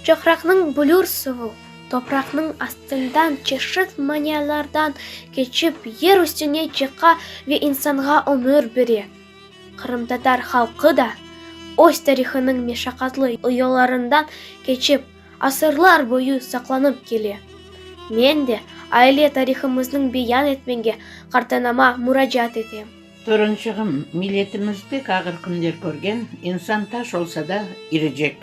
Çaqraqnıñ blur suvu, topraqnıñ astından çeşit manialardan keçip, yer üstüne çıqa ve insanğa ömür bere. Qırımtatar halqı da, öz tarihınıñ meşaqatlı oyalarından keçip, asırlar boyu saqlanıp kele. Men de aile tarihımıznıñ beyan etmege Qartanama muracaat etem. Törençığım, milletimiz pek ağır künler körgen, insan taş olsa da irecek.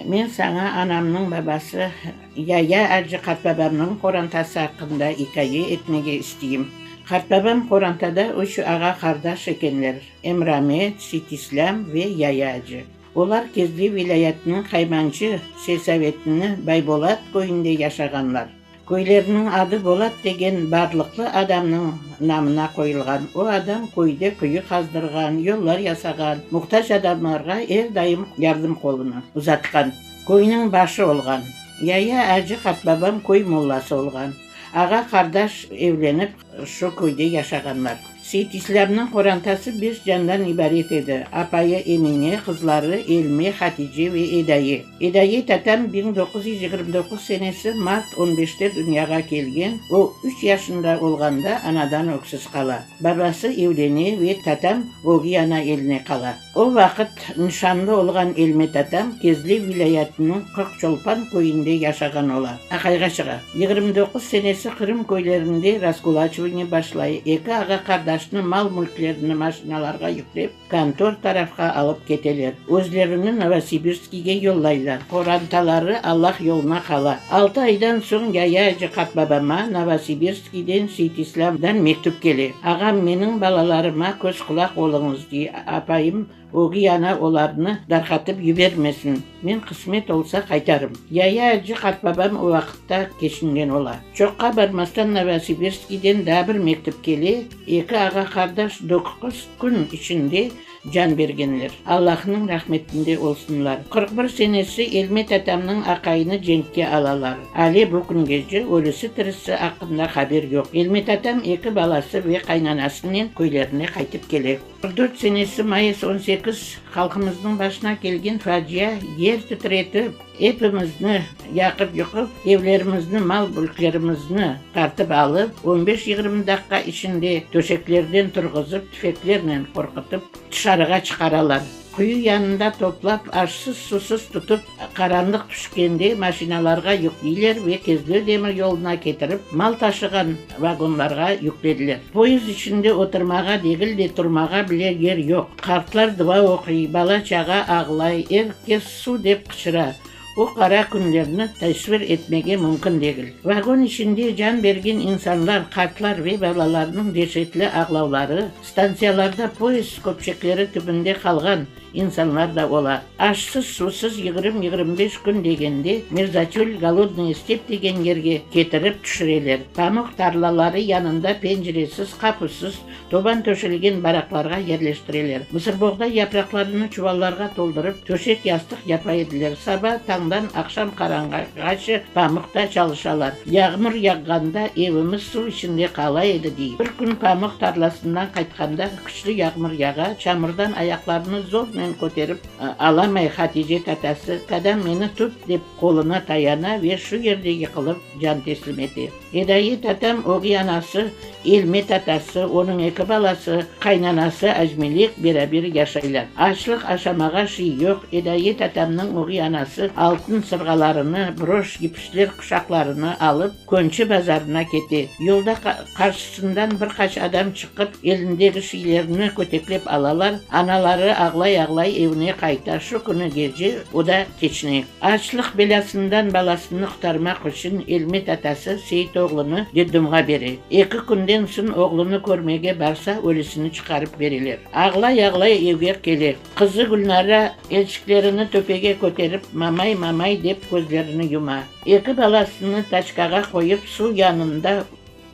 Men saña anamnıñ babası Yaya acı qartbabamnıñ qorantası aqqında ikaye etmege isteyim. Qartbabam qorantada üç ağa-qardaş ekenler, Emramet, Seytislâm ve Yaya acı. Olar Kezli vilâyetiniñ Qaymancı selsavetini Baybolat köyünde yaşağanlar. Köyleriniñ adı Bolat degen barlıqlı adamnıñ namına qoyulğan. O adam köyde quyu qazdırğan, yollar yasağan, muhtac adamlarğa er daim yardım qolunı uzatqan. Köyniñ başı olğan. Yaya acı qartbabam köy mollası olğan. Ağa-qardaş evlenip, Şu köyde yaşağanlar. Seytislerniñ qorantası beş candan ibaret edi, apayı Emine, qızları Elme, Hatice ve Edaye. Edaye tatam biñ doquz yüz yigirmi doquz senesi mart on beşte dünyağa kelgen, o üç yaşında olğanda anadan öksüz qala. Babası evlene ve tatam ögüy ana eline qala. O vaqıt nişanlı olğan Elmet atam Kezlev vilâyetiniñ Qırqçolpan köyünde yaşağan ola. Aqayğa çığa. Yigirmi doquz senesi Qırım köylerinde raskulaçivaniye başlay, eki ağa-qardaşnı mal-mülklerini maşinalarğa yüklep, kontor tarafqa alıp keteler. Özlerini Novosibirskiyge yollaylar. Qorantaları allaq yoluna qala. Altı aydan soñ yaya Cıqat babama Novosibirskiyge Iden Seytislamdan mektüp kele. Ağam, meniñ balalarıma köz-qulaq oluñız, dey. Apayım, ögüy ana olarnı darqatıp yibermesin. Men qısmet olsa qaytarım. Yaya acı qartbabam o vaqıtta keçingen ola. Çoqqa barmastan Novosibirskiyden daa bir mektüp kele, eki ağa-qardaş dokquz kün içinde Can bergenler, Allahnıñ rahmetinde olsunlar. Qırq bir senesi Elmet atamnıñ aqayını cenkke alalar. Alâ bu küngece ölüsi-tirisi aqqında haber yoq. Elmet atam eki balası ve qaynanasınen köylerine qaytıp kele. Qırq dört senesi mayıs on sekiz halqımıznıñ başına kelgen facia yer titretip. Epimizni yaqıp-yuqıp, evlerimizni, mal-mülklerimizni tartıp alıp, on beş-yigirmi daqqa içinde töşeklerden turğuzıp, tüfeklernen qorqutıp, tışarığa çıqaralar. Quyu yanında toplap, aşsız-susuz tutıp, qaranlıq tüşkende maşinalarğa yükleyler ve Kezlö demir yoluna ketirip, mal taşığan vagonlarğa yüklediler. Poyezd içinde oturmağa degil de, turmağa bile yer yoq. Qartlar dua oquy, bala-çağa ağlay, er kes Suv! dep qıçıra. O qara künlerni tasvir etmege mümkün degil. Vagon içinde can bergen insanlar, qartlar ve balalarnıñ deşetli ağlavları, stantsiyalarda poezd köpçekleri tübünde qalğan insanlar da ola. Aşsız, suvsız yigrim-yigrim beş kün degende Mirzatül, Golodnıye step degen yerge ketirip tüşüreler. Pamuq tarlaları yanında penciresiz, qapussız, Toban töşelgen baraqlarğa yerleştireler. Mısırboğday yapraqlarını çuvallarğa toldurıp, töşek-yastıq yapa ediler. Saba tañdan aqşam qaranğaçı pamıqta çalışalar. Yağmur yağğanda evimiz suv içinde qala edi, dey. Bir kün pamıq tarlasından qaytqanda küçlü yağmur yağa, çamurdan ayaqlarını zornen köterip alamay Hatice tatası, Qadam, meni tut, dep qoluna tayana ve şu yerde yıqılıp can teslim ete. Edayi tatam ögey anası, Elme tatası, onıñ eki balası, qaynanası Ajmelek beraber yaşaylar. Açlıq, aşamağa şiy yoq. Edayi tatamnıñ ögey anası altın sırğalarını, broş, gipişler quşaqlarını alıp, Könçi bazarına kete. Yolda qarşısından bir qaç adam çıqıp, elindegi şiylerini köteklep alalar, anaları ağlay-ağlay evine qayta. Şu künü gece o da keçine. Açlıq belâsından balasını qurtarmaq içün Elmet atası Seyitoğlunı detdomğa bere. Eki künden soñ oğlunı körmege barsa, ölüsini çıqarıp bereler. Ağlay-ağlay evge kele. Qızı Gülnara elçiklerini töpege köterip, Mamay, mamay, dep közlerini yuma. Eki balasını taçkağa qoyıp, suv yanında.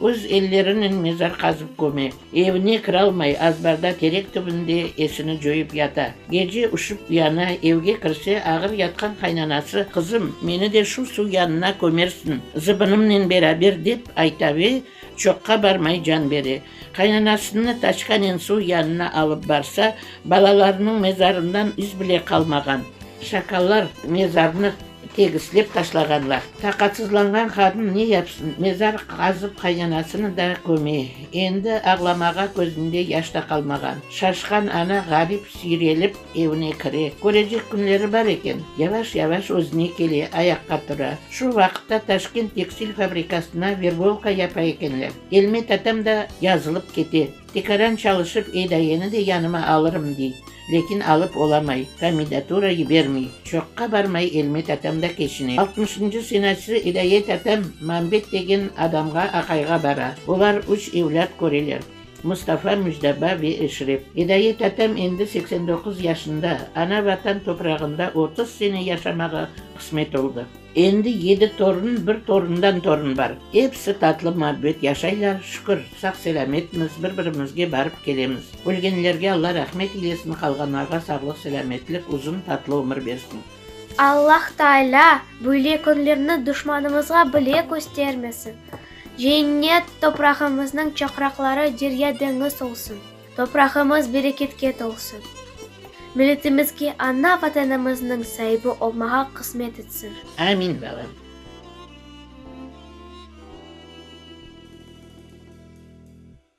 Öz ellerinen mezar qazıp köme. Evine kiralmay, azbarda, terek tübünde esini coyıp yata. Gece üşip yana, evge kirse, ağır yatqan qaynanası, Qızım, meni de şu suv yanına kömersiñ, zıbınımnen beraber, dep ayta ve çoqqa barmay can bere. Qaynanasını taçkanen suv yanına alıp barsa, balalarınıñ mezarından iz bile qalmağan. Şakallar mezarnı. Tegislep taşlağan vaqıt, taqatsızlanğan qadın ne yapsın, mezar qazıp qaynanasını da köme. Endi ağlamağa közünde yaş da qalmağan. Şaşqan ana Ğarip süyrelip evine kire. Körecek künleri bar eken. Yavaş-yavaş özüne kele, ayaqqa tura. Şu vaqıtta Taşkent tekstil fabrikasına verbolka yapa ekenler. Elmet atam da yazılıp kete. Tikaran çalışıp Eydayeni de yanıma alırım dey, lekin alıp olamay, komendatura yibermey. Çoqqa barmay Elmet atam da keçine. Altmışıncı senatçı İdayet atam Mambet degen adamğa aqayğa bara. Olar üç evlât köreler, Mustafa, Müjdaba ve Eşrep. İdayet atam endi seksen doquz yaşında, ana Vatan toprağında otuz sene yaşamağa qısmet oldı. Endi yedi torun, bir torundan torun bar. Episi tatlı-muabbet yaşaylar, şükür, sağ-selâmetmiz, bir-birimizge barıp kelemiz. Ölgenlerge Alla rahmet eylesin, qalğanlarğa sağlıq-selâmetlik, uzun, tatlı ömür bersin. Alla Taalâ böyle künlerni duşmanımızğa bile köstermesin. Cennet toprağımıznıñ çaqraqları derya-deñiz olsun. Toprağımız bereketke tolsun. Milletimizge ana Vatanımıznıñ saibi olmağa qısmet etsin. Amin balam.